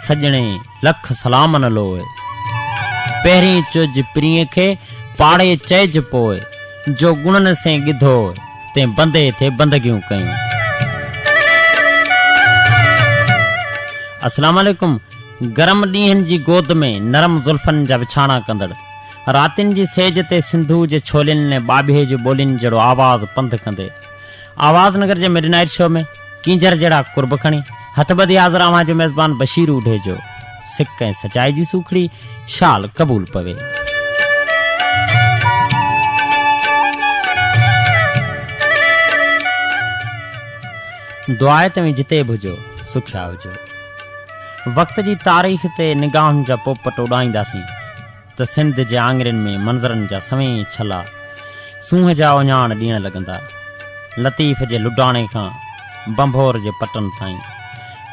سڄڻي لک سلامن لوء. پهرين چئج پرينء کي، پاڙي چئج پوء. جو گڻن سين ڳڌو، تين بندي تي بندگيون ڪيون. السلام عليڪم گرم ڏينهن جي گود ۾ نرم زلفن جا وڇاڻا ڪندڙ راتين جي سيج تي سنڌوء جي ڇولين ۾ ٻاٻيهي جي ٻولين جهڙو آواز پنڌ ڪندي آواز نگر جي مڊ نائيٽ شو ۾ ڪينجهر جهڙا قرب کڻي هٿ ٻڌي حاضر اوهان جو ميزبان بشير اوڍيجو سڪ ۽ سچائي جي سوکڙي شال قبول پوي. دعائي توهين جتي به هجو سکيا هجو. وقت جي تاريخ تي نگاهن جا پوپٽ اڏائينداسين. ته سنڌ جي آڱرين ۾ منظرن جا سوين ڇلا سونهن جا اڃاڻ ڏيڻ لڳندا. لطيف جي لڊاڻي کان ڀنڀور جي پٽن تائين،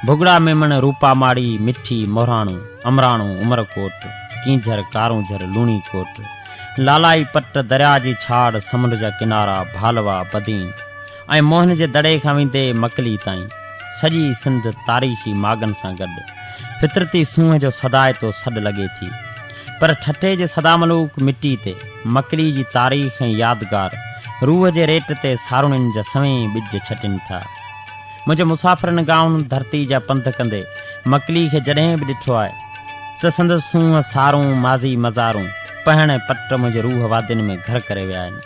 ڀڳڙا ميمڻ، روپا ماڙي، مٺي، مهراڻو، امراڻو، عمرڪوٽ، ڪينجهر، ڪارونجهر، لوڻي ڪوٽ، لالائي پٽ، درياء جي ڇاڙ، سمنڊ جا ڪنارا، ڀالوا، بدين، ۽ موهن جي دڙي کان ويندي مڪلي تائين سڄي سنڌ تاريخي ماڳن سان گڏ فطرتي سونهن جو سدائتو سڏ لڳي ٿي پر ٺٽي جي سداملوڪ مٽي تي مڪلي جي تاريخ ۽ يادگار روح جي ريٽ تي ساروڻين جا سوين ٻج ڇٽين ٿا منهنجي مسافرن گائون ڌرتي جا پنڌ ڪندي مڪلي کي جڏهن به ڏٺو آهي ته سندس سونهن سارون ماضي مزارون پهڻ پٽ منهنجي روح وادين ۾ گهر ڪري ويا آهن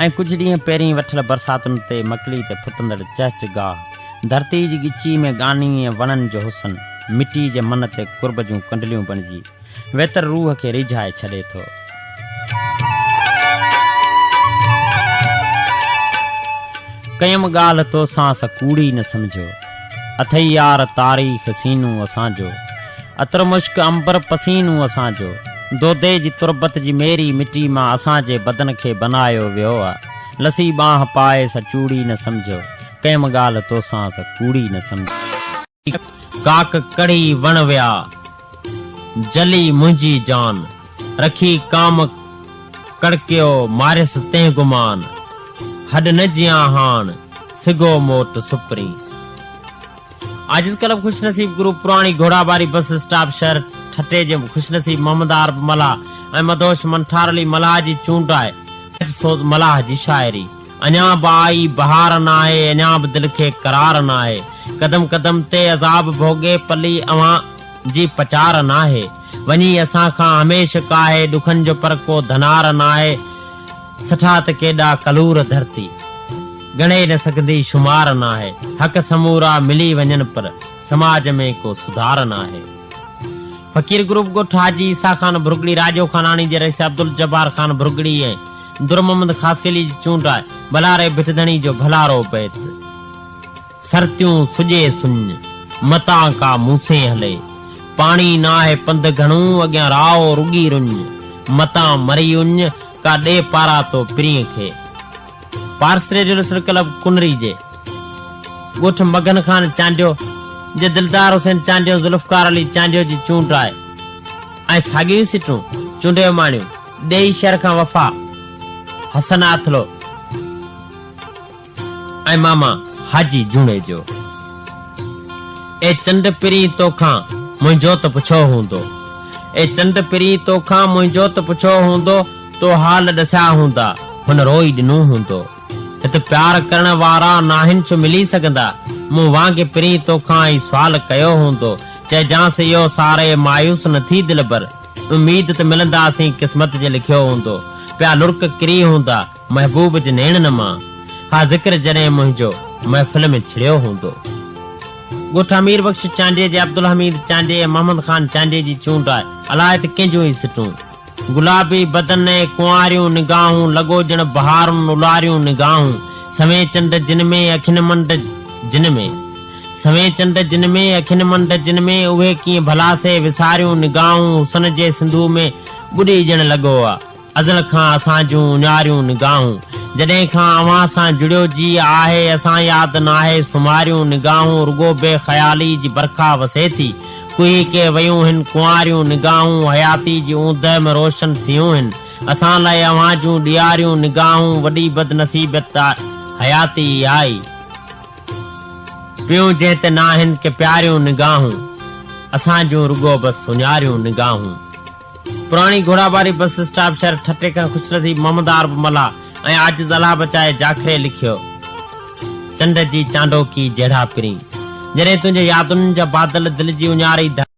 ۽ ڪجهه ڏينهن پهرين وٺل برساتن تي مڪلي تي ڦٽندڙ چهچ گاهه، ڌرتي جي ڳچي ۾ ڳاني ۽ وڻن جو حسن، مٽي جي من تي قرب جون ڪنڊليون بڻجي، ويتر روح کي ريجهائي ڇڏي ٿو. ڪيم ڳالهه توسان سا ڪوڙي نه سمجهيو. اٿئي يار تاريخ سينو اسان جو. عطر مشڪ عنبر پسينو اسان جو. دودي جي تربت جي ميري مٽي مان اسان جي بدن کي بنايو ويو آ. لسي ٻانهه پائي سا چوڙي نه سمجهيو. ڪيم ڳالهه توسان سا ڪوڙي نه سمجهيو. ڪاڪ ڪڙي وڻ ويا جلي منهنجي جان، رکي ڪام ڪڙڪيو ماريس تنهن گمان، هڏ نه جيان هاڻ، سگهو موٽ سپرين. عاجز ڪلب خوش نصيب گروپ پراڻي گهوڙاباري بس اسٽاپ شهر ٺٽي جي خوش نصيب محمد عارب ملاح ۽ مدهوش منٺار علي ملاح جي چونڊ آهي. سوز ملاح جي شاعري. اڃا به آئي بهار ناهي، اڃا به دل کي قرار ناهي، قدم قدم تي عذاب ڀوڳي پلي اوهان جي پچار ناهي، وڃي اسان کان هميشھ ڪاهي، ڏکن جو پر ڪو ڌنار ناهي، سٺا ته ڪيڏا ڪلور ڌرتي ڳڻي نه سگهندي شمار ناهي، حق سمورا ملي وڃن پر سماج ۾ ڪو سڌار ناهي. فقير گروپ ڳوٺ حاجي عيسيٰ خان ڀرڳڙي راڄو خاناڻي جي رئيس عبدالجبار خان ڀرڳڙي ۽ در محمد خاصخيلي جي چونڊ آء، بلاري ڀت ڌڻي جو ڀلارو بيت، سرتيون سڄي سڃ، متان ڪا موسين هلي، پاڻي ناهي پنڌ گهڻو، اڳيان راء رڳي رڃ، متان مرئي اڃ، ڪا ڏي پارا تو پرينء کي. Paras radio listener club Kunri جي ڳوٺ مگن خان چانڊيو جي دلدار حسين چانڊيو ذوالفقار علي چانڊيو جي چونڊ آء ۽ ساڳيون ئي سيٽون چونڊيو ماڻيون. ڏيئي شھر کان وفا، حسن آٿلو ۽ ماما حاجي جوڻيجو. اي چنڊ پرين توکان منھنجو ته پڇو ھوندو. اي چنڊ پرين توکان منھنجو ته پڇو ھوندو، تو حال ڏسيا ھوندا، ھن روئي ڏنو ھوندو. ھت پيار ڪرڻ وارا ناھن ڇو ملي سگھندا، مون وانگي پرين توکان ئي سوال ڪيو ھوندو، چئجانس اھو ساري مايوس نه ٿي دلبر. اميد ته ملنداسين قسمت جي لکيو هوندو پيا لڙڪ ڪري هوندا محبوب جي نيڻن مان ها ذڪر جڏهن منهنجو محفل ۾ ڇڙيو هوندو ڳوٺ امير بخش چانڊيي جي عبدالحميد چانڊيي ۽ محمد خان چانڊيي جي چونڊ آهي الاهي ته ڪنهن جون هي سٽون گلابي بدن ۽ ڪنواريون نگاهون لڳو ڄڻ بهارن الاريون نگاهون سوين چنڊ جن ۾ اکين منڊ جن ۾. سوين چنڊ جن ۾، اکين منڊ جن ۾، اهي ڪيئن ڀلا سي وساريون نگاهون حسن جي سنڌوء ۾ ٻڏي ڄڻ لڳو آ ازل کان اسان جون اڃاريون نگاهون جڏهن کان اوهان سان جڙيو جي آهي اسان ياد ناهي سماريون نگاهون رڳو بي خيالي جي برکا وسي ٿي ڪهي ڪي ويون هن ڪنواريون نگاهون حياتي جي اوندهه ۾ روشن سيون هن اسان لاء اوهان جون ڏياريون نگاهون وڏي بدنصيبت آ حياتي اهائي. پيون جنهن تي ناهن ڪي پياريون نگاهون اسان جون رڳو بس سڃاريون نگاهون پراڻي گهوڙاٻاري بس اسٽاپ شهر ٺٽي کان خوشنصيب محمد عارب ملاح ۽ عاجز الله بچائي جاکري لکيو چنڊ جي چانڊوڪي جهڙا پرين جڏهن تنهنجي يادن جا بادل دل جي اڃاري